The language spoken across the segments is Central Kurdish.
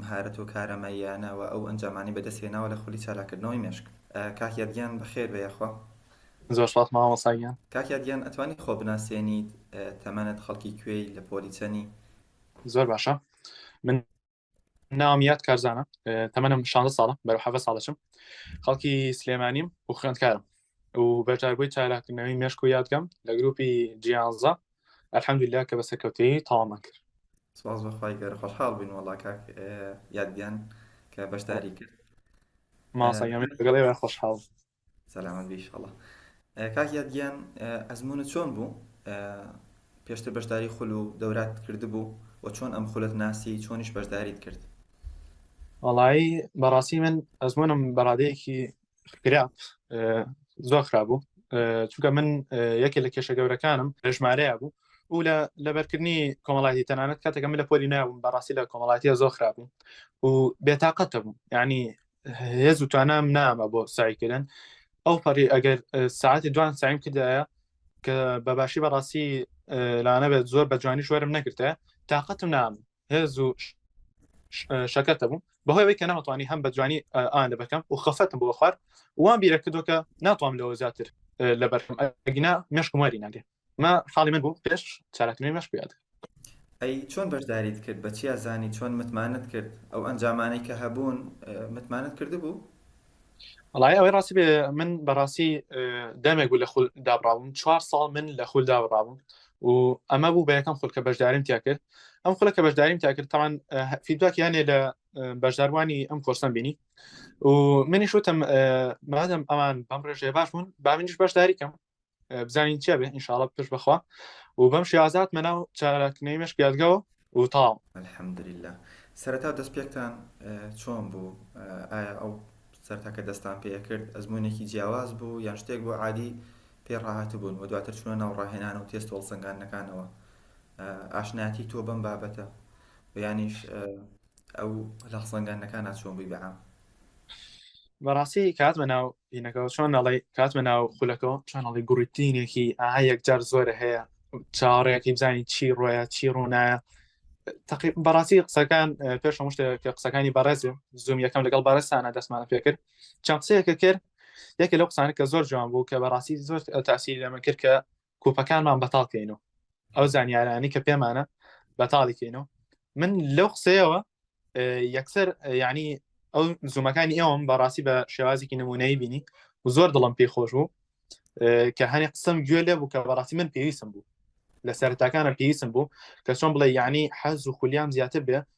مهارەت و کارامەییانە و ئەو ئەنجامانەی بەدەست هێناوە لە خولی چالاککردنەوەی مێشک. کاک یاد گیان بەخێر بێ یاخوا. زۆر سپاس مامۆستا گیان. کاک یاد گیان ئەتوانی خۆ بناسێنیت تەمەنت خەڵکی کوێی لە پۆلی چەنی. زۆر باشە من ناوم یاد کارزانە تەمەنم شانزە ساڵە بەرەو حەڤە ساڵ دەچم خەڵکی سلێمانیم و خوێندکارم و بەشداربووی چالاکردنەوەی مێشک و یادگەم لە گروپی جیانزە ئەلحەمدللا کە بە سەرکەوتەیی تەوامان کرد سپاس بەخوای گەر خۆشحاڵ بووین وەڵا کاک یادگیان کە بەشداری کرد ماسەگەڵێ خۆشحاڵ سەلامەت بیشڵە کاک یادگیان ئەزمونە چۆن بوو پێشتر بەشداری خول و دەورات کردبوو و چۆن ئەم خولت ناسی چۆنیش بەشداریت کرد وڵایی بەڕاستی من ئەزمونم بەڕادەیەکی کرا زۆر خرابوو چونکە من یەکێ لە کێشە گەورەکانم ژمارەیە بوو و لە لەبەرکردنی کۆمەڵاتی تەنانەت کاتێکە من لە پۆلی ناوم بەڕاستی لە کۆمەڵاتیە زۆر خراپ بوو و بێتاقەتە بوو ینی هێز و توانام نامە بۆ سایکردن ئەو پەڕی ئەگەر ساعتی دوان سایم کردایە کە بەباشی بەڕاستی لانەبێت زۆر بە جوانی شوەرم نەکردە تااقەتم نام هێز و شەکەتە بووم بەهۆی ئەوەی کە نەمەتوانی هەم بە جوانی ئاان لەبەکەم و خەفەتم بۆ خوارد وان بیرە کردوکە ناتوام لەوە زیاتر لە بەرم ئەگینا مشکم واری ناگێ ما حاڵی من بوو پێش چالاکردنی مەش بێت ئەی چۆن بەشداریت کرد بە چیا زانی چۆن متمانت کرد ئەو ئەنجامانەی کە هەبوون متمانت کردبوو؟ وڵای ئەوەی ڕاستی بێ من بەڕاستی دەمێک بوو لە خول دابراون چوار ساڵ من لە خول دابراون و ئەمە بوو بە یەکەم خولکە بەشداریم تیا کرد ئەم خولە کە بەشداریم تا کرد تاوان فیدباک یانێ لە بەشداروانی ئەم کۆرسم بینی و منیش وتم مادەم ئەمان بەم ڕێژێ باش بوون با منیش بەشداریکەم بزانین چیا بێ ئینشاڵە پش بخوا و بەم شێوازات مەناو چاراکنەی مشک یادگەوە و تاو الحمدلله سەرەتا دەست پێکتان چۆن بوو ئایا ئەو سەرتاکە دەستان پێ کرد ئەزمونێکی جیاواز بوو یان شتێک بۆ عادی پێ ڕاهات بوون و دواتر چونە ناو ڕاهێنان و تێست هۆڵسەنگانەکانەوە ئاشناتی تۆ بەم بابەتە بیانیش ئەو لە خزەنگاندنەکانا چۆن بووی بە عام؟ بەڕاستی کاتمە ناو دینەکەەوە چۆن نەڵی کاتمە ناو خولەکەەوە چۆن نەڵی گوڕیتینێکی ئاها یەکجار زۆرە هەیە چاڕێکی بزانین چی ڕۆیە چی ڕوونایە تقی بەڕاستی قسەکان پێش هەموو شتێک کە قسەکانی بەڕێزێ زوم یەکەم لەگەڵ بارستانە دەستمانە پێکرد چەند قسەیەکە کرد یەکە لەو قسانە کە زۆر جوان بوو کە بەڕاستی زۆر تاسی لەمە کرد کە کوپەکانمان بەتاڵ کەین و ئەو زانیارانی کە پێمانە بەتاڵی کەین و من لەو قسەیەوە یەکسەر ینی ئەو زوومەکانی ئێوەم بەڕاستی بە شێوازێکی نمونەی بینی و زۆر دڵم پێی خۆش بوو کە هەنێ قسم گوێ لێ بوو کە بەڕاستی من پێویستم بوو لە سەرتاکانە پێویستم بوو کە چۆن بڵێ یعنی حەز و خولیام زیاتر بێ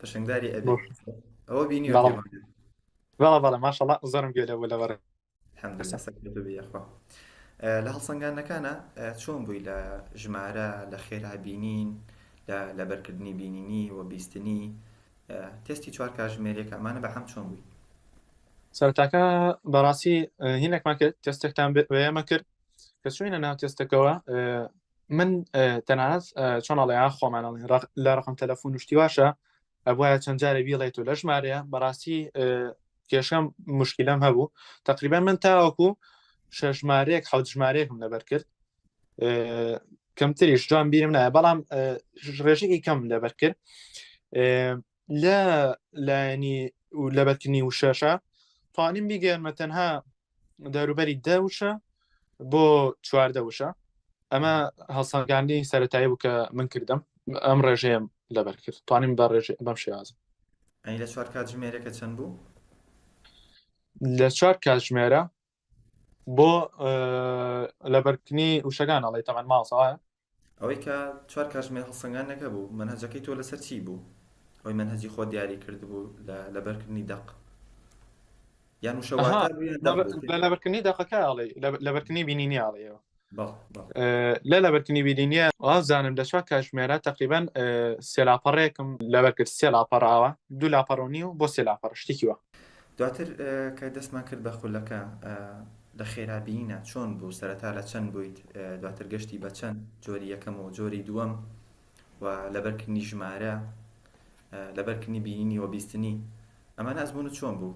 پەشنگداری ئەبێ ئەوە بینی بەڵا بەڵە ماشەڵا زۆرم گوێ لەوە لەوەڕێ بەخوا لە هەڵسەنگانەکانە چۆن بووی لە ژمارە لە خێرا بینین لە بەرکردنی بینینی و بیستنی تستی چوار کاژمێرێک ئەمانە بە هەم چۆن بووی سەرتاکە بەڕاستی هینێکمان کرد تستێکتان بێمە کرد کە چوینە ناو تستەکەەوە من تەنانەت چۆنەڵەیان خۆمانەڵێن لە ڕقم تەلەفۆن شتی واشە ئەبواە چەند جارە بیڵێت و لە ژمارەیە بەڕاستی کێشەم مشکلم هەبوو تقریبا من تاوەکو شەژمارەیەک حوت ژمارەیەکم لەبەر کرد کەمتریش جوان بیرم نایە بەڵام ڕێژەی کەم لەبەر کرد لە لایەنی لە بەرکردنی وشەشە توانیم بیگەێنمە تەنها دەروبەری دە وشە بۆ چواردە وشە ئەمە هەڵسەنگاندی سەتایی بوو کە من کردم ئەم ڕێژەیەم لەبەر کرد توانیم بە ڕێژ بەم شێوازم ئەی لە چوار کاتژمێرەکە چەند بوو لە چوار کاتژمێرە بۆ لەبەرکنی وشەکان ئەڵی تەمان ماڵسەوە ئەوەی کە چوار کاژمێر هەڵسەنگانەکە بوو منهجەکەی تۆ لەسەر چی بوو ئەوی منهجی خۆ دیاری کرد بوو لە لەبەرکردنی دەق یان وشەواتە لەبەرکردنی دەقەکە ئەڵی لەبەرکردنی بینینی ئاڵیەوە لە لەبەرکنی ویدینیە ئازانم لە چوار کاژمێرە تقریبان سێلاپەڕێکم لەبەرکرد سێ لاپەڕاوە دوو لاپەڕۆنی و بۆ سێ لاپەڕ شتێکیوە دواتر کە دەستمان کرد بە خولەکە لە خێرابیینە چۆن بوو سەرەتا لە چەند بوویت دواتر گەشتی بە چەند جۆری یەکەم و جۆری دووەم و لەبەرکردنی ژمارە لەبەرکردنی بینینی و بیستنی ئەمە نازبوون و چۆن بوو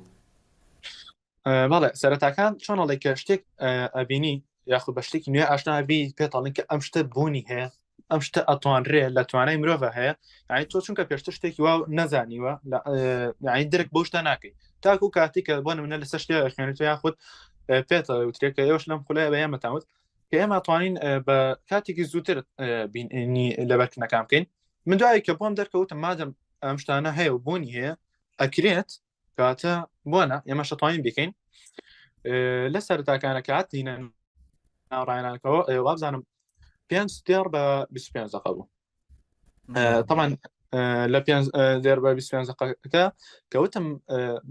بەڵێ سەرەتاکان چۆن ئەڵێ کە شتێک ئەبینی یاخود بە شتێکی نوێ ئاشنابی پێتاڵین کە ئەم شتە بوونی هەیە ئەم شتە ئەتوانرێ لە توانای مرۆڤ هەیە یعنی تۆ چونکە پێشتە شتێکی وا نەزانیوە یعنی درک بۆ شتە ناکەی تاکو کاتی کە بۆ منە لەسەر شتێ خوێنێت یاخود پێتە وترێکە ئێوەش لەم خولای بە ئێمەتاوت کە ئێمە توانین بە کاتێکی زووتر بیننی لەبەرکنەکان بکەین من دوایی کە بۆم دەرکەوتم مادەم ئەم شتانە هەیە و بوونی هەیە ئەکرێت کاتە بۆنە ئێمە شەتوانین بکەین لە سەرتاکانە کات دینە ناڕایانەکەەوە وابزانم پێ دێڕ بە 25 دقە بوو تەمان لە پێ دێر بە 25 دقەکە کەوتم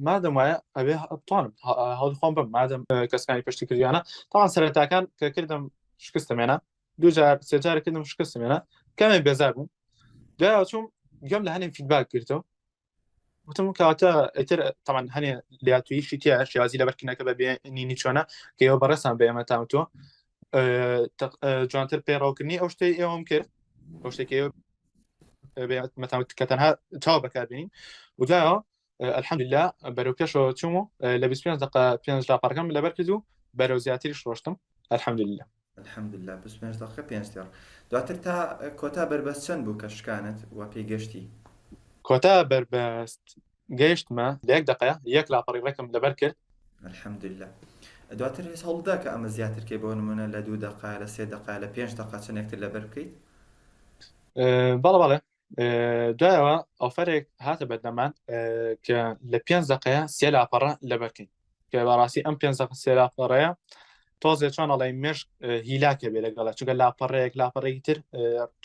مادەم وایە ئەوێ توانم هەڵخۆم بم مادەم کەسکانی پشتی کردیانە تاوان سەرتاکان کە کردم شکستمێنە دوجار سێجار کردم شکستمێنە کەمێ بێزار بووم دوای چوم گەم لە هەنێ فیدباک کردەوە وتم کاتە ئەتر تەمان هەنێ لاتویشی تیا شازی لە بەرکنەکە بە بێنینی چۆنە کە ئێوە بەڕێسان بە ئێمە تام تۆ جوانتر پێڕاوکردنی ئەو شتەی ئێوەم کرد ئەو شتێکی کە تەنها چاو بەکاربین وجاەوە الحمدللا بەرەو پێشەوە چوم و لە 25 دقه پێنج لاپەرەکەم لەبەر کرد و بەرەو زیاتری شۆشتم الحمدللا الحمدللە بیست و پێنج دەقە پێنج تێڕ دواتر تا کۆتا بەربەست چەند بوو کە شکانت و پێی گەشتی کۆتا بەربەست گەیشتمە لە یەک دەقەیە یەک لاپەڕی ڕێکم لەبەر کرد الحمدللە دواتر هێز هەوڵدا کە ئەمە زیاترکەی بۆ نمونە لە دوو دەقا لە سێ دەقا لە پێنج دەقا چەندێکتر لەبەر بکەیت بەڵە بەڵێ دوایەوە ئۆفرێک هاتە بەردەمان کە لە پێنج دقەیە سێ لاپەڕە لەبەرکەین کە بەڕاستی ئەم پێنج دقە سێ لاپەڕەیە تۆزێ چۆنەڵی مشک هیلاکە بێ لەگەڵە چونکە لاپەڕەیەک لاپەڕێکی تر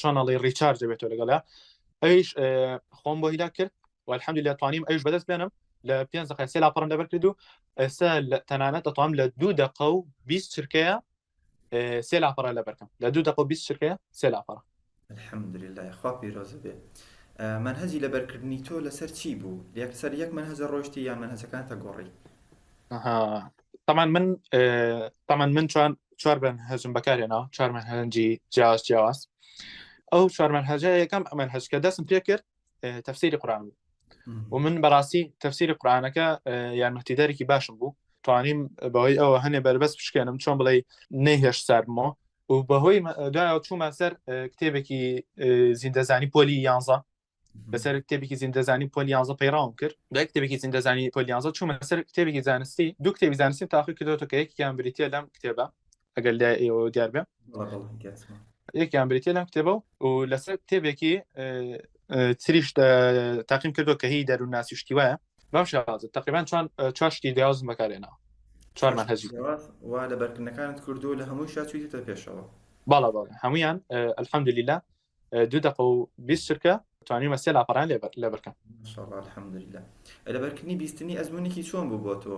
چۆنەڵی ڕیچارج دەبێتەوە لەگەڵە ئەویش خۆم بۆ هیلا کرد والحمد لە توانیم ئەوش بەدەست بێنم لە پێنج دقە سێ لاپەڕم لەبەر کرد و ئێستا تەنانەت دەتوانم لە دوو دقە و بیست چرکەیە سێ لاپەڕە لە بەرکەم لە دوو دەقە بیست شرکەیە سێ لاپەڕە الحمدلله خوا پیرۆزە بێ منهجی لەبەرکردنی تۆ لەسەر چی بوو لەسەر یەک منهجە ڕۆشتی یان منهجەکان تە گۆڕی تەمان من تەمان من چوان چوار بن هەزم بەکارێنەوە چوار منهجی جیاواز جیاواز ئەو چوار منهجە یەکەم ئەمەن هەزکە دەستم پێ کرد تەفسیری قورآن بوو و من بەڕاستی تەفسیری قورآانەکە یارمەتیدارێکی باشم بوو توانیم بەوەی ئەوە هەنێ بەربەست بشکێنم چۆن بڵێ نەیهێش سارمەوە و بەهۆی دایە چوومە سەر کتێبێکی زیندەزانی پۆلی یانزە بەسەر کتێبێکی زیندەزانی پۆلی یانزە پەیڕاوم کرد بە کتێبێکی زیندەزانی پۆلی یانزە چوومە سەر کتێبێکی زانستی دوو کتێبی زانستی تاقی کردوەوە کە یەکیان بریتە لەم کتێبە ئەگەر لای ئێوە دیار بێ یەکیان بریتە لەم کتێبە و لەسەر کتێبێکی تریش تاقیم کردو کە هی دەرو ناسیشتی وایە بەم شازە تقریبان چوان چاشتی دیازم بەکارێنەوە چوارمان هەزی وا لە بەرکردنەکانت کردو لە هەمووی شاچویتە پێشەوە باڵا باڵ هەمویان ئەلحەمدلیلا دوو دقە و بیست چرکە توانیمە سێ لاپەڕان لەبەرکەم الحمدلله لەبەرکردنی بیستنی ئەزمونێکی چۆن بوو بۆ تۆ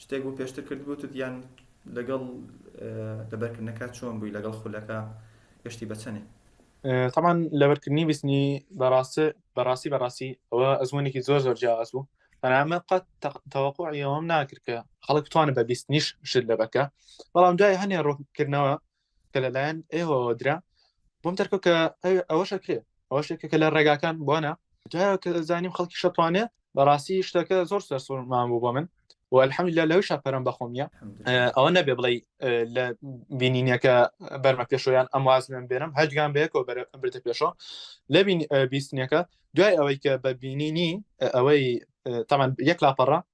شتێک بوو پێشتر کرد بوو یان لەگەڵ لەبەرکردنەکە چۆن بووی لەگەڵ خولەکە گەشتی بەچەنێ تەمان لەبەرکردنی بیستنی بەڕاستە بەڕاستی بەڕاستی ئەوە ئەزمونێکی زۆر زۆر جیاواز بوو بەنامە قەت تەوەقعیەوەم ناکرد کە خەڵک توانە بە بیستنیش شت لەبەکە بەڵام دوای هەنێ ڕۆکردنەوە کە لەلایەن ئێوەوە درا بۆم دەرکە کە ئەوەشەکرێ ئەوە شتێکە کە لە ڕێگاکان بۆنە دوایە کە زانیم خەڵکی شەتوانێ بەڕاستی شتەکە زۆر سەرسوورمان بوو بۆ من و الحەمی لە لەوی شاپەرم بەخۆم نیە ئەوە نەبێ بڵێ لە بینینەکە بەرمە پێشۆیان ئەم وازمێن بێنم هەجگان بەیەکەوە بردە پێشۆ لە بیستنیەکە دوای ئەوەی کە بە بینینی ئەوەی تەمان یەک لاپەڕە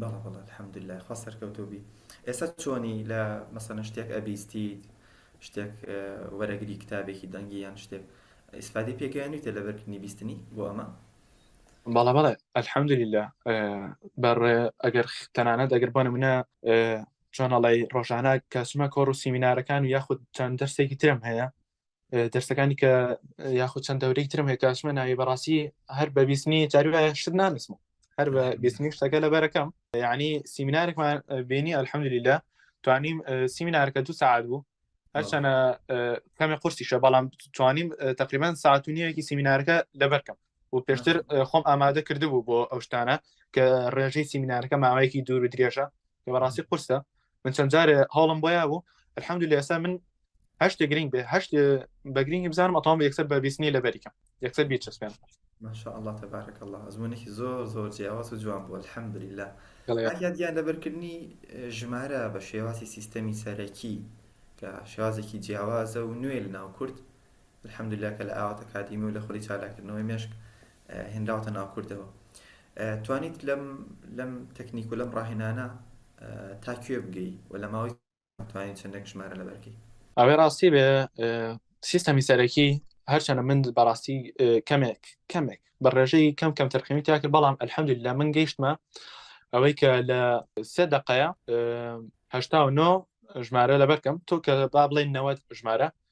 بەڵێ بەڵێ الحمدللە خوا سەرکەوتوو بی ئێستا چۆنی لە مەسەنە شتێک ئەبیستیت شتێک وەرەگری کتابێکی دەنگی یان شتێک ئیسفادی پێگەیانویتە لە بەرکردنی بیستنی بۆ ئەمە بەڵە بەڵێ الحمدللە بەڕێ ئەگەر تەنانەت ئەگەر بۆ منە چۆنەڵی ڕۆژانە کەسمە کۆڕ و سیمینارەکان و یاخود چەند دەرسێکی ترم هەیە دەرسەکانی کە یاخود چەند دەورەی ترم هەیە کاشمە ناوی بەڕاستی هەر بە بیستنی جاروایە شت نانسمە هەر بە بیستنی شتەکە لە بەرەکەم یعنی سیمینارێکمان بینی ئەلحەمدلیلا توانیم سیمینارەکە دو سعات بوو هەرچەنە کەمێ قورسیشە بەڵام توانیم تقریبان ساعت و نیەکی سیمینارەکە لەبەرکەم و پێشتر خۆم ئامادە کردبوو بۆ ئەو شتانە کە ڕێژەی سیمینارەکە ماوەیەکی دوور و درێژە کە بەڕاستی قرسە من چەند جارێ هەڵم بۆیا بوو الحمد لە ئێستا من هەشت گرنگ بێ هەشت بە گرنگی بزانم ئەتام یەکسەر بە بیستنی لە بەریکەم یەکسەر بیچەسپێن ماشاء الله تبارك الله ئەزمونێکی زۆر زۆر جیاواز و جوان بوو الحمد لله یادیان لەبەرکردنی ژمارە بە شێوازی سیستەمی سەرەکی کە شێوازێکی جیاوازە و نوێ لە ناو کورد الحمدللە کە لە ئاوات ئەکادیمی و لە خولی چالاککردنەوەی مێشک هێنراوەتە ناو کوردەوە توانیت لەم لەم تەکنیک و لەم ڕاهێنانە تا کوێ بگەی و لە ماوەی توانین چەندێک ژمارە لەبەرکەی ئەوەی ڕاستی بێ سیستەمی سەرەکی هەرچەنە من بەڕاستی کەمێک کەمێک بە ڕێژەی کەم کەم تەرخەمی تاکرد بەڵام ئەلحەمدل لە من گەیشتمە ئەوەی کە لە سێ دقەیە هشتا و نۆ ژمارە لەبەرکەم تۆ کە با بڵێن نەوە ژمارە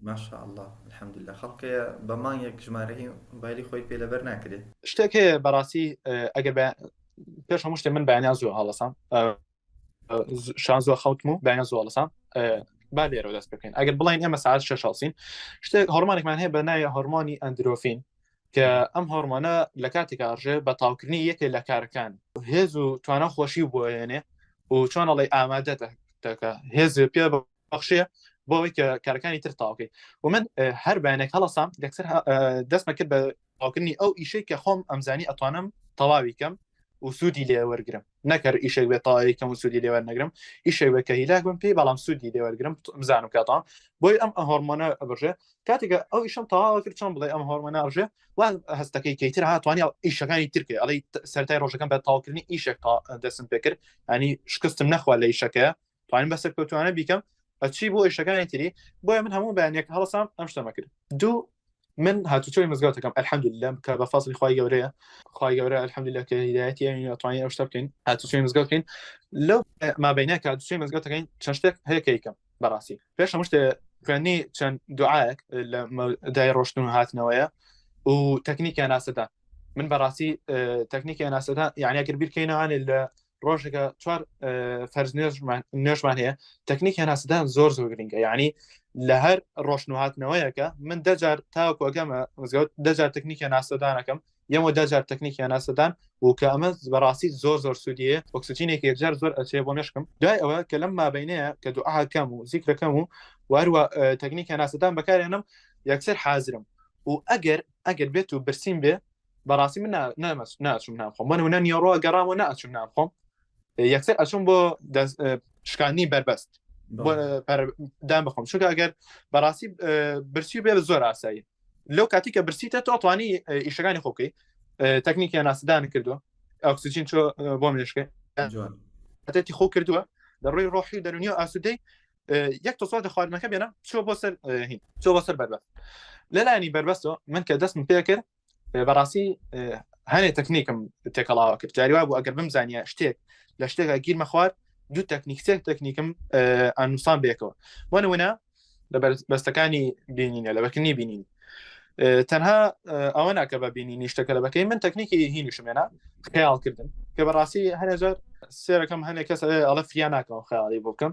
ماشاء اللە الحمدللە خەڵکەیە بە مانگێک ژمارەی مۆبایلی خۆی پێ لەبەر ناکرێ شتێک هەیە بەڕاستی ئەگەر بە پێش هەموو شتێ من بەیانیان زۆر هەڵەسام شان زۆر خەوتم و بەیان زۆر هەڵەسام با لێرەوە دەست بکەین ئەگەر بڵین ئێمە ساعت شش هەڵسین شتێک هەرمانێکمان هەیە بە ناوی هەرمانی ئەندرۆفین کە ئەم هەرمانە لە کاتێک ئاژێ بە تاوکردنی یەکێ لە کارەکان هێز و توانە خۆشی بۆێنێ و چۆنەڵی ئامادە دەکە هێز پێ بەخشەیە بۆ ئەوەی کە کارەکانی تر تاوکەیت و من هەر بەیانێک هەڵسام دەکسەر دەستمە کرد بە ئاوکردنی ئەو ئیشەی کە خۆم ئەمزانی ئەتوانم تەواوی کەم و سوودی لێ وەرگرم نەکەر ئیشێک بێت تاایی کەم و سوودی لێوە نەگرم ئیشێک بە کە هیلاک بم پێی بەڵام سوودی لێ وەرگرم بزانم کاتان بۆی ئەم هۆرمۆنە ئەبژێ کاتێکە ئەو ئیشم تەواوە کرد چۆن بڵێ ئەم هۆرمۆناژێ وا هەستەکەی کەیتر هاتوانانی ئیشەکانی ترکێ ئەڵی سەرای ڕۆژەکەم بە تاڵکردنی ئیشێک دەسم پێکرد ئەنی شکستم نەخوا لە ئیشەکە توانین بە سەرکەوتوانە بیکەم ئەچی بۆ ئیشەکانی تری بۆیە من هەموو بەیانێک هەڵسام ئەم شتەمە کرد دوو من هاتوچۆی مزگەوتەکەم الحمد لله کە بە فەصلی خی گەورەیە خی گەورە الحمد لله کە هدایەتی توانین ئەو شتە بکەین هاتوچۆی مزگەوتین لەو مابینە کە دوچۆی مزگەوتەکەین چەند شتێک هەیەکەیکەم بەڕاستی پێش هەموو شتێ خوێنی چەند دوعاەک لە دای ڕۆشتن و هاتنەوەیە و تەکنیکیان ناسەدان من بەڕاستی تەکنیکیان ناسەدان یعنی ئەگەر بیرکەینەوانێ لە ڕۆژێکە چوار فەرز نوێژمان هەیە تەکنیک هێناسدان زۆر زۆر گرنگە یعنی لە هەر ڕۆشنهاتنەوەیەکە من دەجار تاوەکو ئەگەمە مزگەوت دەجار تەکنیکە ناسەدانەکەم یەمە دەجار تەکنیکیان ناسەدان و کە ئەمە بەڕاستی زۆر زۆر سوودیە ئۆکسسیجینێکی یەکجار زۆر ئەچێ بۆ مشکم دوای ئەوە کە لەم مابینەیە کە دوعاکەم و زیکرەکەم و واروە تەکنیکە ناسەدان بەکارێنم یەکسەر حازرم و ئەگەر ئەگەر بێت و برسیم بێ بەڕاستی من ناچم نامخۆم من هونە نیۆڕۆ گەڕامەوە ناچم نامخۆم یەکسەر ئەچم بۆ شکانی بەربەست دام بخۆم چونکە ئەگەر بەڕاستی برسی بێ زۆر ئاسایی لەو کاتی کە برسیتە تۆتوانی ئیشەکانی خۆکەی تەکنیکیان ناسدان کردووە ئۆکسسیجین چۆ بۆ مێشکە خۆ کردووە لە ڕووی ڕۆحی دەرونی و ئاسوودەی یەک تۆسۆ لە خواردنەکە بێنە چۆ بۆ سەر چۆ بۆ سەر بەربەست لەلانی بەربەستەوە من کە دەستم پێ کرد بەڕاستی هەنێ تەکنیکم تێکەڵاوە کرد جاریوا بوو ئەگەر بم زانیە شتێک لە شتێکا گیرمە خوارد دوو تەکنیک سێک تەکنیکم ئەنووسان بێکەوە بۆ نمونە لە بەستەکانی بینینە لە بەکنی بینین تەنها ئەوە ناکە بە بینینی شتەکە لە بەکەی من تەکنیکی هینیشمێنە خیاڵکردن کە بەڕاستی هەنێ زۆر سێرەکەم هەنێک کەس ئەڵە فریا ناکەەوە خیاڵی بۆ بکەم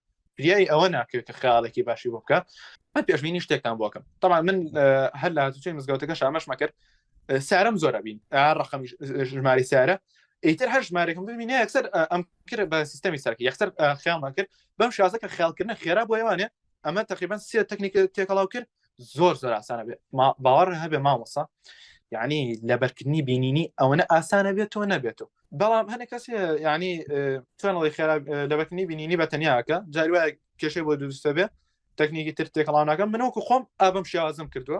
فریای ئەوە ناکرێت کە خیاڵێکی باشی بۆ بکە من پێشبینی شتێکتان بۆکەم تەمان من هەر لە هاتوچەی مزگەوتەکە شامەش مەکرد سارم زۆرە بین ڕقم ژماری سارە ئیتر هەر ژمارێکم ببینە یەکسەر ئەم کرد بە سیستەمی ساکی یەخسەر خیاڵمان کرد بەم شازەکە خیالکردنە خێرا بۆ ێوانێ ئەمە تقریبان سێ تەکنیک تێکەڵاو کرد زۆر زۆر ئاسانە بێت باوەڕ هەبێ مامۆسا یعنی لەبەرکردنی بینینی ئەوەنە ئاسانە بێت تۆ نەبێتەوە بەڵام هەنە کەس ینی توێنەڵی خێرا لەبەرکردنی بینینی بە تەنیاکە جاروای کێشەی بۆ دووستە بێ تەکنیکی تر تێکەڵاوناکە منەوەکو خۆم ئابم شێوازم کردووە